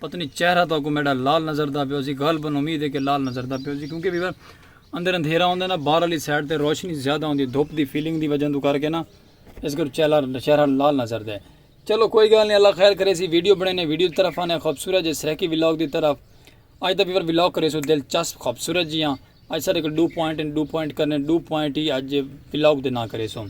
پتہ نی چہرہ تہاکوں میڈا لال نظردا پیا ہوسی غالبا امید ہے کہ لال نظردا پیا ہوسی کیونکہ ویور اندر اندھیرا ہوندا نا باہر والی سائیڈ تے روشنی زیادہ ہوندی دھوپ دی فیلنگ دی وجہ توں کر کے نا اس کر چہرہ چہرہ لال نظردا ہے چلو کوئی گال نہیں اللہ خیر کریسی ویڈیو بنینے ویڈیو دی طرف آنے خوبصورت جے سریکی ولاگ دی طرف اج دا ویور ولاگ کریسوں دلچسپ خوبصورت جیاں اج سارے کو ڈو پوائنٹ ان ڈو پوائنٹ کرنے ڈو پوائنٹ ہی اج ولاگ دے نہ کریسوں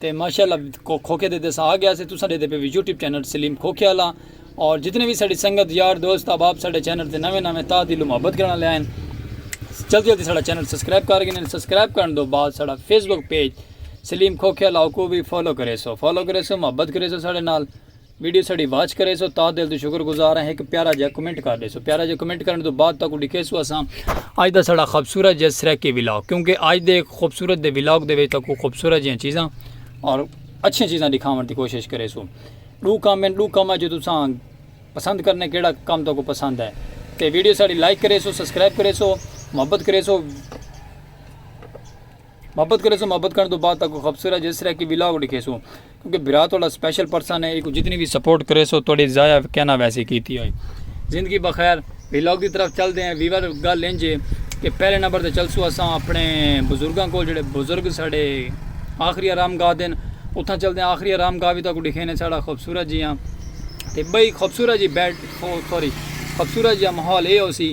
تے ماشاءاللہ کو کھوکھے دے دس آ گیا سے تساں دے دے پہ یوٹیوب چینل سلیم کھوکھے والا اور جتنے بھی ساڑی سنگت یار دوست احباب ساڑے چینل تے نویں نویں تا دل محبت کرنا لے ہیں جلدی جلدی ساڑا چینل سبسکرائب کر گئے سبسکرائب کرن دو بعد ساڑا فیس بک پیج سلیم کھوکھے والا کو بھی فالو کرے سو فالو کرے سو محبت کرے سو ساڑے نال ویڈیو ساڈی واچ کریسو تاں دل توں شکر گزار ہیں ہک پیارا جا کمنٹ کر ڈیسو پیارا جا کمنٹ کرن توں بعد تاکوں ڈکھیسو اساں اج دا ساڈا خوبصورت جے سریکی ولاگ کیونکہ اج دے خوبصورت دے ولاگ دے وچ تاکوں خوبصورت جیاں چیزاں اور اچھیاں چیزاں دکھاون دی کوشش کریسو ڈو کم ہیں ڈو کم جو تساں پسند کرنے کیڑا کم تاکوں پسند ہے تے ویڈیو ساڈی لائک کریسو سبسکرائب کریسو محبت کریسو محبت کریسوں محبت کرن تو بعد تاکو خبصورت جس طرح کی ویلاگ ڈکھیسوں کیونکہ بھرا تو اللہ سپیشل پرسن ہے ایکو جتنی بھی سپورٹ کریسو تو ڈی ضائع کہنا ویسی کیتی ہوئی زندگی بخیر ویلاگ دی طرف چل دے ہیں ویور گل انج ہے کہ پہلے نمبر تے چلسو اساں اپنے بزرگاں کو جڑے بزرگ ساڑے آخری آرام گاہ دین اتھاں چل دے ہیں آخری آرام گاہ بھی تاکو ڈکھینے ساڑا خبصورت جی ہاں تے بھئی خبصورت جی بیٹ سوری خبصورت جی ہاں محول اے ہو سی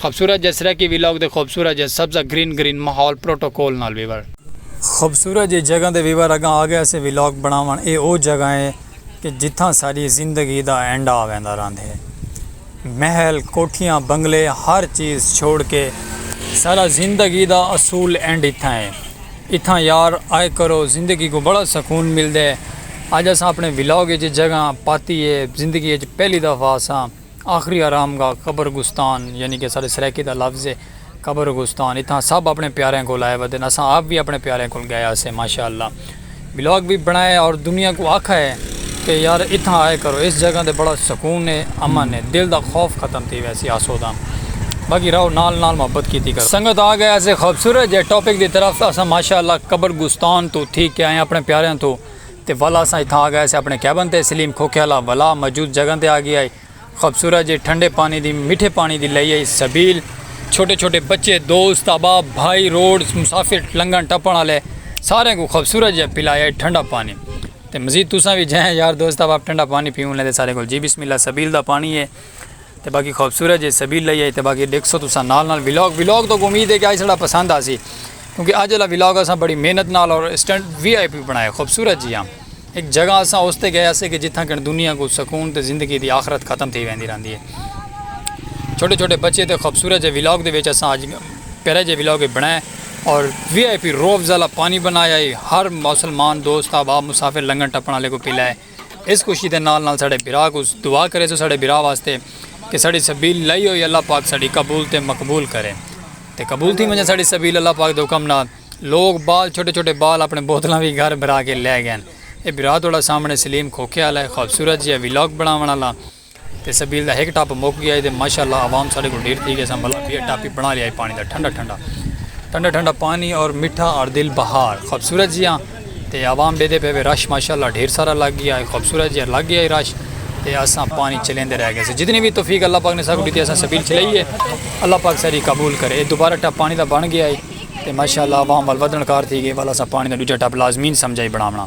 خوبصورت جے سرائیکی ویلاگ دے خوبصورت جے سبز ا گرین گرین ماحول پروٹوکول نال ویور۔ خوبصورت جے جگہ دے ویور اگاں آ گئے سے ویلاگ بنڑاون اے او جگہ اے کہ جتھاں ساڈی زندگی دا اینڈ آ ویندا راندھے محل کوٹھیاں بنگلے ہر چیز چھوڑ کے ساڈا زندگی دا اصول اینڈ اتھاں اے اتھاں یار آئے کرو زندگی کوں بڑا سکون ملدے اج اساں اپنڑے ویلاگ اچ اے جگہ پاتی اے زندگی اچ پہلی دفعہ اساں آخری آرام گاہ قبر گستان یعنی کہ اساڈے سرائیکی دا لفظ ہے قبر گستان اتھاں سب اپنے پیاریاں کول آئے ودن اساں آپ وی اپنے پیاریاں کول گئے ہاسے ماشاءاللہ ولاگ وی بنڑایا اور دنیا کوں آکھا ہے کہ یار اتھاں آئے کرو اس جگہ تے بڑا سکون ہے امن ہے دل دا خوف ختم تھی ویسی آسودہ باقی رہو نال نال محبت کیتی کرو سنگت آ گئے اسے خوبصورت جے ٹاپک دی طرف اساں ماشاءاللہ قبر گستان تو تھی کے آئے اپنے پیاریاں تو تے ولا اساں اتھاں آ گئے سے اپنے کیبن تے سلیم کھوکھے آلا ولا موجود جگہ تے آ گیا ہئی خوبصورت جے ٹھنڈے پانی دی مٹھے پانی دی لئی ہئی سبیل چھوٹے چھوٹے بچے دوست احباب بھائی روڈز مسافر لنگھن ٹپن آلے ساریں کوں خوبصورت جیہا پلایا ہئی ٹھنڈا پانی تے مزید تساں وی جئیں یار دوست احباب ٹھنڈا پانی پیون لیں تے ساریں کول جی بسم اللہ سبیل دا پانی ہے۔ تے باقی خوبصورت جے سبیل لئی ہے تے باقی ڈیکھسو تساں نال نال ولاگ ولاگ تو امید ہے کہ آج سڑا پسند آسی کیونکہ آج والا ولاگ اساں بڑی محنت نال اور اسٹینڈ وی آئی پی بنایا خوبصورت جی ہاں ایک جگہ اساں اس تے گئے سے کہ جتھاں کن دنیا کو سکون تے زندگی دی آخرت ختم تھی ویندی رہندی ہے چھوٹے چھوٹے بچے تے خوبصورت جے ولاگ دے وچ اساں آج پیرے جے ولاگ بنائے اور وی آئی پی روب زالہ پانی بنایا ہے ہر مسلمان دوست آبا مسافر لنگن ٹپن والے کو پلائے اس خوشی دے نال نال ساڈے بھرا کوں دعا کریسو ساڈے بھرا واسطے کہ ساڈی سبیل لائی ہوئی اللہ پاک ساڈی قبول تے مقبول کرے تے قبول تھی ونجے ساڈی سبیل اللہ پاک دے حکم نال لوگ بال چھوٹے چھوٹے بال اپنے بوتلاں وی گھر بھرا کے لے گئن اے بھرا تہاڈا سامنے سلیم کھوکھے آلا اے خوبصورت جیہا ولاگ بناون آلا۔ تے سبیل دا ہک ٹپ مک گیا ہئی تے ماشاء اللہ عوام ساڈے کول ڈھیر تھی گئی ساں بھلا بیا ٹپ ہی بنا لیا ہئی پانی دا ٹھنڈا ٹھنڈا ٹھنڈا ٹھنڈا پانی اور مٹھا اور دل بہار خوبصورت جیاں تے عوام ڈیدے پے وے رش ماشاء اللہ ڈھیر سارا لگ گیا ہئی خوبصورت جیاں لگ گیا ہئی رش تے اساں پانی چلیندے رہ گئے ساں جتنی وی توفیق اللہ پاک نے ساکوں ڈتی اساں سبیل چلائی ہے اللہ پاک ساڈی قبول کرے اے دوبارہ ٹپ پانی دا بن گیا ہئی تے ماشاء اللہ عوام ول ودھن کار تھی گئی ول اساں پانی دا ڈوجھا ٹپ لازمین سمجھا ہئی بناونا۔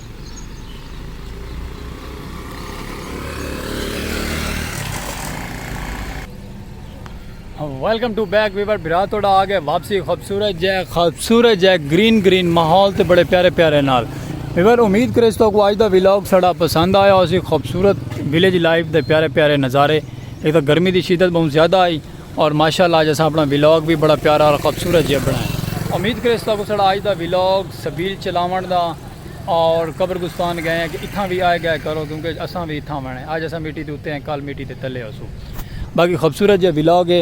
ویلکم ٹو بیک ویور برا توڑا آ گئے واپسی خوبصورت جے خوبصورت جے گرین گرین ماحول تے بڑے پیارے پیارے نال ویور امید کرے تو کو آج دا ویلاگ سڑا پسند آیا اسی خوبصورت ویلیج لائف دے پیارے پیارے نظارے ایک تو گرمی دی شدت بہت زیادہ آئی اور ماشاءاللہ آج اسا اپنا ویلاگ بھی بڑا پیارا اور خوبصورت جے بنائے امید کرے تو کو سڑا آج دا ویلاگ سبیل چلاون دا اور قبرگستان گئے ہیں کہ اتھاں وی آئے گئے کرو کیونکہ اساں وی اتھاں آوݨا ہے اج اساں مٹی دے اتے ہیں کل مٹی دے تلے ہوسوں باقی خوبصورت جیہا ولاگ ہے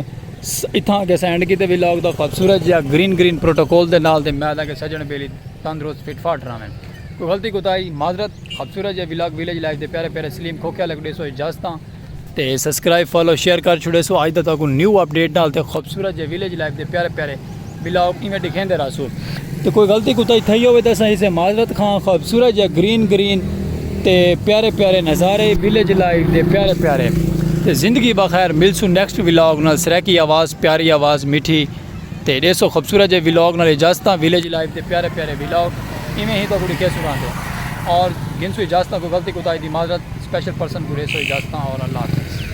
اتھاں آکے اساں اینڈ کیتے ولاگ دا خوبصورت جیہا گرین گرین پروٹوکول دے نال تے میں آدھا کہ سجن بیلی تندرست فٹ فاٹ رہویں کوئی غلطی کوتاہی معذرت خوبصورت جیہا ولاگ ویلیج لائف دے پیارے پیارے سلیم کھوکھے والے کو ݙیسو اجازتاں تے سبسکرائب فالو شیئر کر چھوڑے سو آج دا تو کو نیو اپڈیٹ نال تے خوبصورت جے ویلیج لائف دے پیارے پیارے بلاگ ایویں دکھیں دے راسو تے کوئی غلطی کو تائی تھئی ہوئے تے اساں اسے معذرت خواں خوبصورت جے گرین گرین تے پیارے پیارے نظارے ویلیج لائف دے پیارے پیارے تے زندگی بخیر ملسو نیکسٹ ویلاگ نال سریکی آواز پیاری آواز میٹھی تے ڈیسو خوبصورت جے ولاگ نال اجازت ہاں ویلیج لائف دے پیارے پیارے ولاگ ایویں ہی تہاکوں ڈکھے سناں دے اور گھنسو اجازت ہاں کوئی غلطی کوتاہی دی معذرت سپیشل پرسن کوں ڈیسو اجازت ہاں اور اللہ حافظ۔